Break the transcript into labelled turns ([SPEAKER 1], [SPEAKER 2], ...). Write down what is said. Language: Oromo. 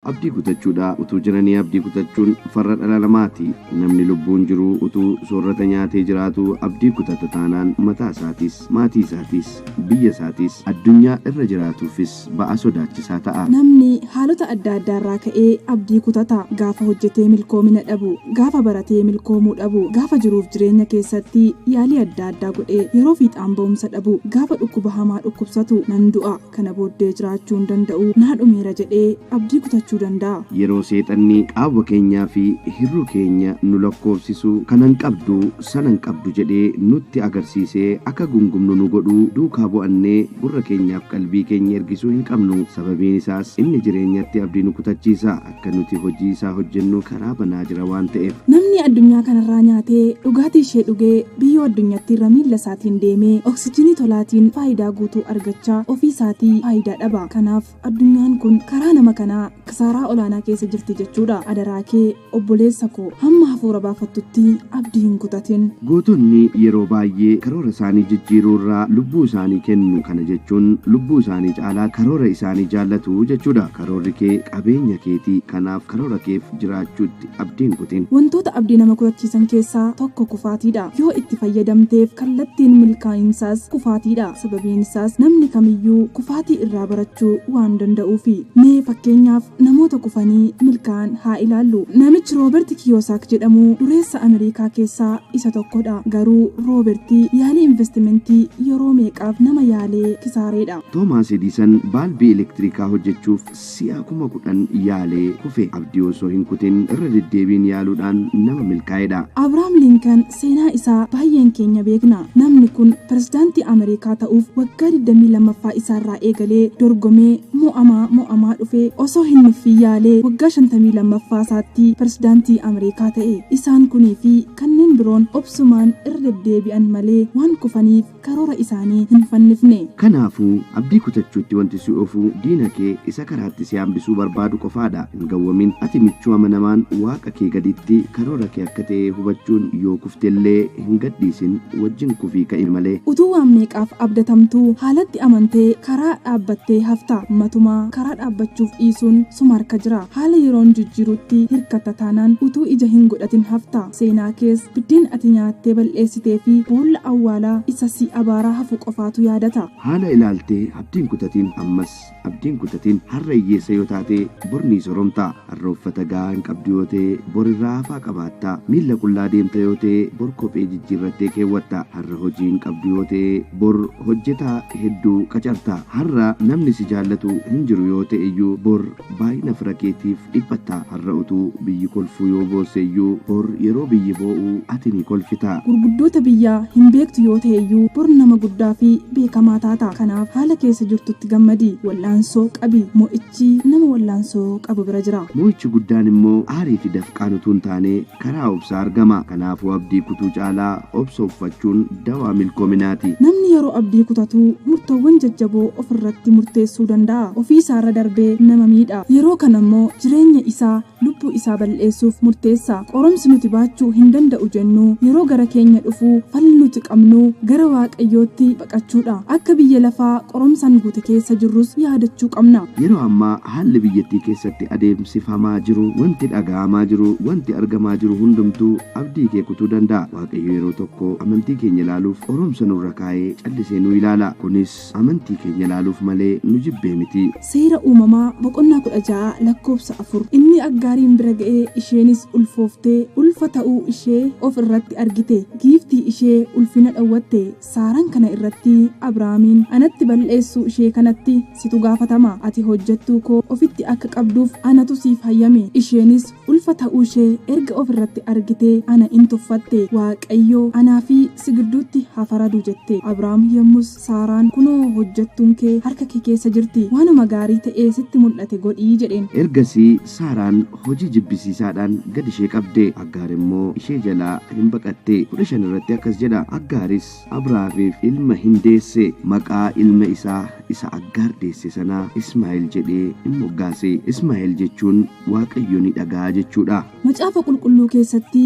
[SPEAKER 1] Abdii kutachuudha utuu jiranii abdii kutachuun farra dhala namaati. Namni lubbuun jiruu utuu soorrata nyaatee jiraatuu abdii kutata taanaan mataa isaatiis, maatii isaatiis, biyya isaatiis, addunyaa irra jiraatuufis ba'aa sodaachisaa ta'a. Namni haalota
[SPEAKER 2] adda addaarraa ka'ee abdii kutata. Gaafa hojjetee milkoomina dhabu, gaafa baratee milkoomuu dhabu, gaafa jiruuf jireenya keessatti yaalii adda addaa godhee yeroo fiixaan ba'umsa dhabu, gaafa dhukkuba hamaa dhukkubsatu nan du'a, Kana booddee jiraachuu hin danda'u. Naa dhumeera jedhee abdii kutachuu danda'a. Yeroo Seexanni
[SPEAKER 1] qaawwa keenyaa fi hir'uu keenya nu lakkoofsisu, kanan qabdu, sanan qabdu jedhee nutti agarsiisee akka gungumnu nu godhu duukaa bu'annee gurra keenyaaf qalbii keenya ergisuu hin qabnu. Sababiin isaas inni jireenyatti abdii nu kutachiisa. Akka nuti hojii isaa hojjennuu karaa banaa jira waan ta'eef. Namni addunyaa kanarraa
[SPEAKER 2] nyaatee dhugaatii ishee dhugee biyyoo addunyattiirra miilla isaatiin deemee oksijiinii tolaatiin faayidaa guutuu argachaa ofii isaatii faayidaa dhaba. Kanaaf addunyaan kun karaa nama kanaa kisaaraa olaanaa keessa jirti jechuudha. Adaraa kee obboleessa koo hamma hafuura baafattutti abdii hin kutatin. Gootonni yeroo
[SPEAKER 1] baay'ee karoora isaanii jijjiiruu irraa lubbuu isaanii kennu. Kana jechuun lubbuu isaanii caalaa karoora isaanii jaallatu jechuudha. Karoorri kee qabeenya keeti, kanaaf karoora keef jiraachuutti abdii hin kutin. Wantoota abdii nama
[SPEAKER 2] kutachiisan keessaa tokko kufaatiidha. Yoo itti fayyadamteef kallattiin milkaa'insaas kufaatiidha. Sababiin isaas namni kamiyyuu kufaatii irraa barachuu waan danda'uufi. Mee fakkeenyaaf namoota kufanii milkaa'an haa ilaallu. Namichi Rooberti Kiyoosaak jedhamu dureessa Amerikaa keessaa isa tokkodha. Garuu Rooberti yaalii investimentii yeroo meeqaaf nama yaalee kisaareedha. Toomaas Ediisan
[SPEAKER 1] baalbii elektirikaa hojjechuuf si'a kuma kudhan yaalee kufe. Abdii osoo hin kutin irra deddeebiin yaaluudhaan nama milkaa'edha. Abrahaam Linkan
[SPEAKER 2] seenaa isaa baay'een keenya beekna. Namni kun pirezidaantii Ameerikaa ta'uuf waggaa 22ffaa isaarraa eegalee dorgomee mo'amaa mo'amaa dhufee osoo hin nuffin yaalee waggaa 52ffaasaatti pirezidaantii Ameerikaa ta'e. Isaan kuniifi kanneen biroon obsumaan irra deddeebi'an malee waan kufaniif. karoora isaanii hin fannifne. Kanaafuu, abdii
[SPEAKER 1] kutachuutti wanti si oofu diina kee isa karaatti si hambisuu barbaadu qofaadha. Hin gawwamin. Ati michuu amanamaan Waaqa kee gaditti karoora kee akka ta'e hubachuun yoo kufte illee hin gadhiisin, wajjin kufii ka'i malee. Utuu waan meeqaaf
[SPEAKER 2] abdatamtuu haalatti amantee karaa dhaabbattee hafta. Matumaa karaa dhaabbachuuf dhiisuun suma harka jira. Haala yeroon jijjiirutti hirkatta taanaan utuu ija hin godhatin hafta. Seenaa kees biddeena ati nyaattee bal'eessitee fi boolla awwaalaa isa si abaaraa hafu qofaatu yaadata. Haala ilaaltee
[SPEAKER 1] abdiin kutatiin ammas abdiin kutatiin har'a hiyyeessa yoo taatee bor nii soromtaa har'a uffata gahaa hin qabdu yoo ta'e bor irraa hafaa qabaattaa miilla qullaa deemta yoo ta'e bor kophee jijjiirrattee keewwatta har'a hojii hin qabdu yoo ta'e bor hojjetaa hedduu qacarta har'a namni si jaallatu hin jiru yoo ta'eyyuu bor Baay'ina fira keetiif dhiphatta. Har'a utuu biyyi kolfuu yoo boosse iyyuu, bor yeroo biyyi boo'u ati ni kolfita. Gurguddoota biyyaa
[SPEAKER 2] hin beektu yoo ta'e iyyuu, bor nama guddaa fi beekamaa taata. Kanaaf haala keessa jirtutti gammadi. Wal'aansoo qabi. Mo'ichi nama wal'aansoo qabu bira jira. Mo'ichi guddaan immoo
[SPEAKER 1] aarii fi dafqaan utuu hin taane, Karaa obsaa argama. Kanaafuu abdii kutuu caalaa obsa uffachuun dawaa milkoominaati. Namni yeroo abdii
[SPEAKER 2] kutatu murtoowwan jajjaboo ofirratti murteessuu danda'a. Ofiisaarra darbee nama miidha. Yeroo kanammoo jireenya isaa, lubbuu isaa bal'eessuuf murteessa. Qorumsi nuti baachuu hin danda'u jennu yeroo gara keenya dhufu falli nuti qabnu gara Waaqayyootti qachuudha. Akka biyya lafaa qoromsaan guute keessa jirrus yaadachuu qabna. Yeroo ammaa haalli
[SPEAKER 1] biyyattii keessatti adeemsifamaa jiru, wanti dhaga'amaa jiru, wanti argamaa jiru hundumtuu abdii kee kutuu danda'a. Waaqayyo yeroo tokko amantii keenya ilaaluuf qoromsa nurra kaa'ee callisee nu ilaala. Kunis amantii keenya ilaaluuf malee nu jibbee miti. Seera Uumamaa
[SPEAKER 2] boqonnaa 16 lakkoofsa 4 Inni Aggaariin bira ga'e, isheenis ulfooftee, ulfa ta'uu ishee of irratti argite, giiftii ishee ulfina dhowwatte. Saaraan kana irratti Abrahaamiin, Anatti balleessuu ishee kanatti situ gaafatama. Ati hojjettuu koo ofitti akka qabduuf anatu siif hayyame. Isheenis ulfa ta'uu ishee erga of irratti argitee ana in tuffatte. Waaqayyo anaa fi si gidduutti haa faradu jette. Abrahaam yommus Saaraan, Kunoo hojjettuun kee harka kee keessa jirti. Waanuma gaarii ta'ee sitti mul'ate godhi jedheen. Ergasii Saaraan
[SPEAKER 1] hojii jibbisiisaadhaan gad ishee qabde. Aggaar immoo ishee jalaa hin baqatte. 15 irratti akkas jedha, Aggaaris Abraafiif ilma hin deesse, maqaa ilma isaa isa Aggaar deesse sanaa Ismaa'el jedhee in moggaase. Ismaa'el jechuun Waaqayyo ni dhaga'a jechuu
[SPEAKER 2] dha.
[SPEAKER 1] Macaafa Qulqulluu
[SPEAKER 2] keessatti.